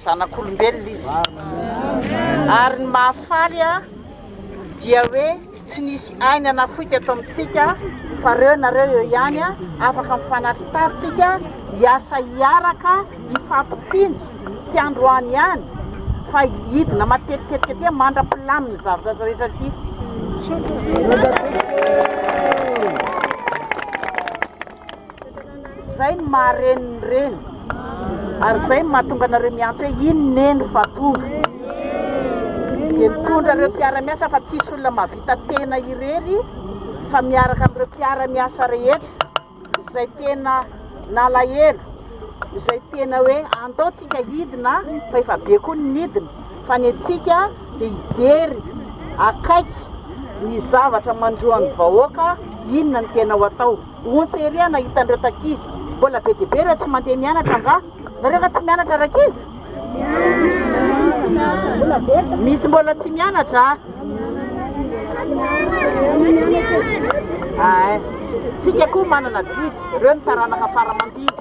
Zanak'olombelona izy. Ary ny mahafaly dia hoe tsy nisy ainy anafoy teto amintsika fa reo nareo eo ihany afaka mifanaritaritsika hiasa hiaraka hifampitsinjo tsy androany ihany fa hidina matetitetika tia mandra-pilamin'ny zavatra rehetra ity. Zay ny maha reny ny reny ary zay ny mahatonga anareo miantso hoe iny neny fa tonga dia mitondra ireo mpiara-miasa fa tsisy olona mahavita tena irery fa miaraka amin'ireo mpiara-miasa rehetra izay tena nalahelo izay tena hoe andaontsika hidina fa efa be koa ny nidina fa ny antsika dia hijery akaiky ny zavatra mandroa ny vahoaka, inona no tena ho atao? Ontsa ery aho nahita an'ireo takizy, mbola be dia be ireo tsy mandeha mianatra angaha? Nareo efa tsy mianatra rankizy? Misy mbola tsy mianatra? Tsika koa manana didy, ireo ny taranaka fara aman-didy.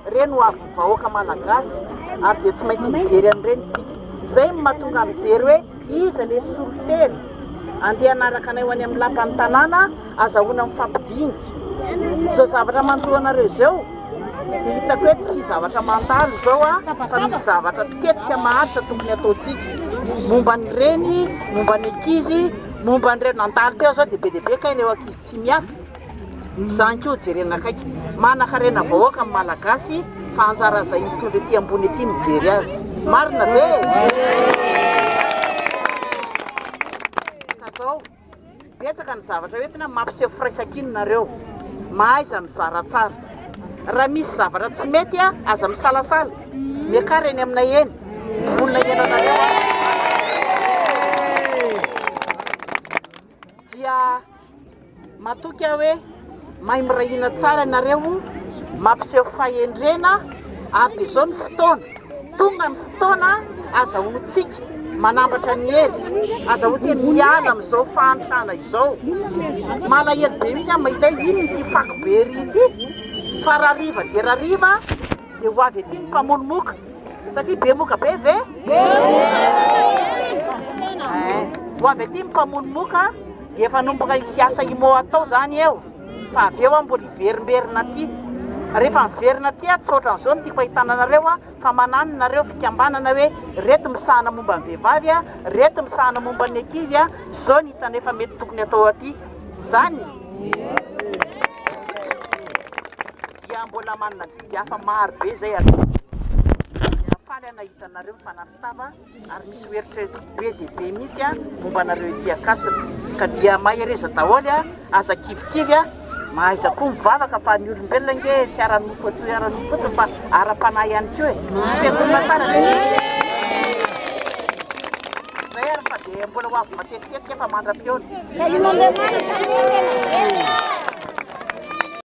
Ireny ho avin'ny vahoaka malagasy ary dia tsy maintsy mijery an'ireny isika. Izay no mahatonga ahy mijery hoe iza ilay solotena andeha hanaraka anay ho any amin'ny lapan'ny tanàna azahoana mifampidinika. Izao zavatra manontolo anareo izao dia hitako hoe tsy zavatra mandalo izao aho fa misy zavatra miketrika maharitra tokony hataontsika. Momba ny reny, momba ny ankizy, momba an'ireo nandalo teo izao dia be dia be kay ireo ankizy tsy miasa. Mizan ko jerena akaiky. Manakarena vahoaka ny malagasy fa anjara zay mitondra ety ambony ety mijery azy. Marina ve? Ka zao, betsaka ny zavatra ho entina mampiseho firaisankina nareo. Mahaiza mizara tsara. Raha misy zavatra tsy mety aza misalasala. Miakara eny aminay eny. Vonona hihaino anareo aho. dia matoky aho hoe mahay miray hina tsara ianareo, mampiseho fahendrena, ary dia izao ny fotoana, tonga ny fotoana, azahoantsika manambatra ny hery, azahoantsika miala amin'izao fahantrana izao. Malahelo be mihitsy aho mahita hoe inona ity fako be ery ity, fa rariva dia rariva. Dia ho avy ety ny mpamono moka, satria be moka be ve? Ho avy ety ny mpamono moka, dia efa nomboka hisy asa imo atao zany eo, fa avy eo mbola hiverimberina aty. Rehefa miverina aty aho, tsy ohatran'izao ny tiako ahitana anareo aho, fa manano nareo fikambanana hoe reto misahana momba ny vehivavy, reto misahana momba ny ankizy, zao ny hitanay fa mety tokony atao aty. Zany? dia mbola manana didy hafa maro be izay hatao, dia faly aho nahita anareo mifanarintava ary misy ho eritreretiko be dia be mihitsy a momba anareo ety Ankasina, ka dia mahereza daholo a, aza kivikivy a, mahaiza koa mivavaka fa ny olombelona ange tsy ara-nofo atso ara-nofo fotsiny fa ara-panahy ihany koa e, ny fiangonana tsara ve? Zay ary fa dia mbola ho avy matetitetika efa mandra-pihaona.